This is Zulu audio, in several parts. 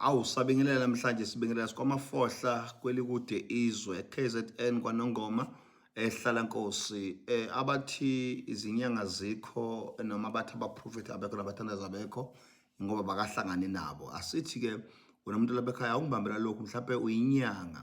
Awu sabingelela namhlanje sibingelela sikwamafohla kwelikude izwe KZN kwanongoma ehlala nkosi eh abathi izinyanga zikho noma abathi abaprofeti abekho nabathandaza abekho ngoba bakahlangani nabo asithi ke wena umuntu labekhaya awungibambela lokhu mhlawumbe uyinyanga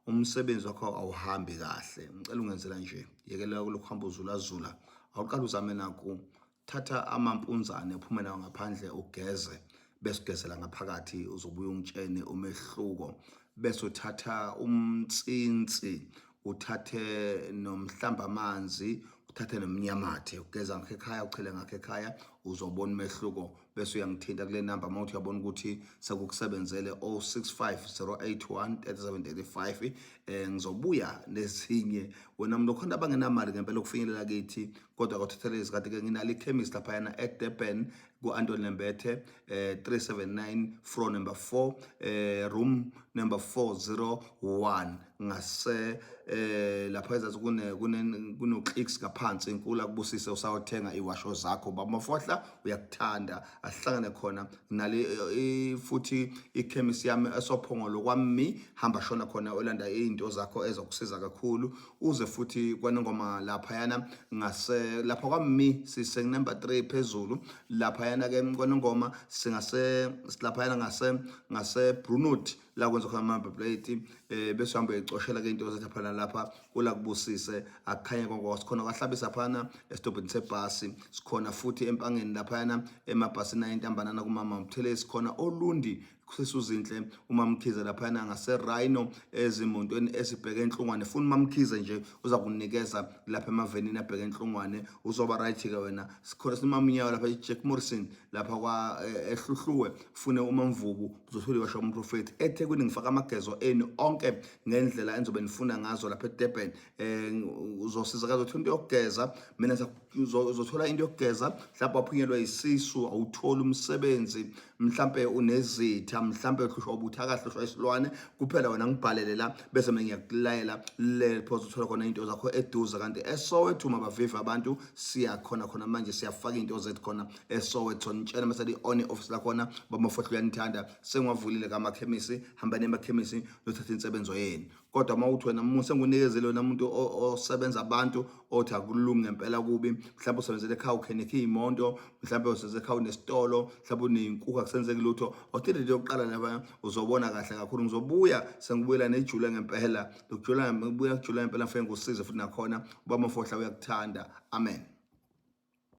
umsebenzi wakho awuhambi kahle ngicela ungenzela nje yekela lokuhamba uzulazula awuqala uzame naku thatha amampunzane uphume nawo ngaphandle ugeze bese ugezela ngaphakathi uzobuya ungitshene umehluko bese uthatha umtsinsi uthathe nomhlamba amanzi uthathe nomnyamathe ugeza ngakho ekhaya uchele ngakho ekhaya uzobona umehluko bese uyangithinta kule namba uma uthi uyabona ukuthi sekukusebenzele 0650813735 eh ngizobuya nezinye wena mntu khona abangenamali ngempela ukufinyelela kithi kodwa kwathathela izikhathi ke nginale ikhemisi laphayana edurban ku-antoni lembethe eh, 379 fro number 4 eh, room number 401 ngase eh, lapha ezasi kuno-clicks ngaphansi inkulu akubusise usawothenga iwasho zakho bamafohla uyakuthanda asihlangane khona nale eh, futhi ikhemisi yami esophongolo kwami hamba shona khona olanda izinto zakho ezokusiza kakhulu uze futhi kwanongoma laphayana ngase lapha kwami sise number 3 phezulu laphayana ke kwanongoma singase silaphayana ngase ngase Brunot la kwenza khona ama plate eh bese hamba ecoshela ke into zathi phana lapha kula kubusise akukhanye konke sikhona kwahlabisa phana estobhini sebhasi sikhona futhi empangeni laphayana emabhasini ayintambanana kumama Mthelezi sikhona olundi sisuzinhle umamkhize laphana ngaserhino ezimontweni ezibheke enhlungwane funa umamkhize nje uza kunikeza lapha emavenini abheke enhlungwane uzoba right-ke wena sikhona simamnyawo lapha ijack morrison lapha kwa-ehluhluwe eh, fune umamvubu uzothola iwasha umprofethi ethekwini ngifaka amagezo enu onke ngendlela engizobe nifuna ngazo lapha edurban um eh, uzosizakaza uthi into yokugeza mina uzothola into yokugeza mhlawumbe waphunyelwa isisu awutholi umsebenzi mhlawumbe unezitha mhlawumbe uhlushwa ubuthaka hlushwa isilwane kuphela wena ngibhalele la bese mina ngiyakulayela le phosa uthola khona into zakho eduze kanti esowethu mabavive abantu siyakhona khona manje siyafaka into zethu khona esowethu nitshela mase i-on office lakhona bamofohlo uyanithanda sengiwavulile kamakhemisi hambani emakhemisi nothatha insebenzo yenu kodwa uma uthi wena musa ngunikezele wena muntu osebenza abantu othi akulungi ngempela kubi mhlawumbe usebenzele ekhaya ukhenekhe iy'monto mhlawumbe usebenzele ekhaya unesitolo mhlawumbe uneyinkukhu akusenzeki lutho othile into yokuqala laba uzobona kahle kakhulu ngizobuya sengibuyela nejule ngempela ngikujula ngibuya kujula ngempela ngifike ngikusize futhi nakhona uba mafohla uyakuthanda amen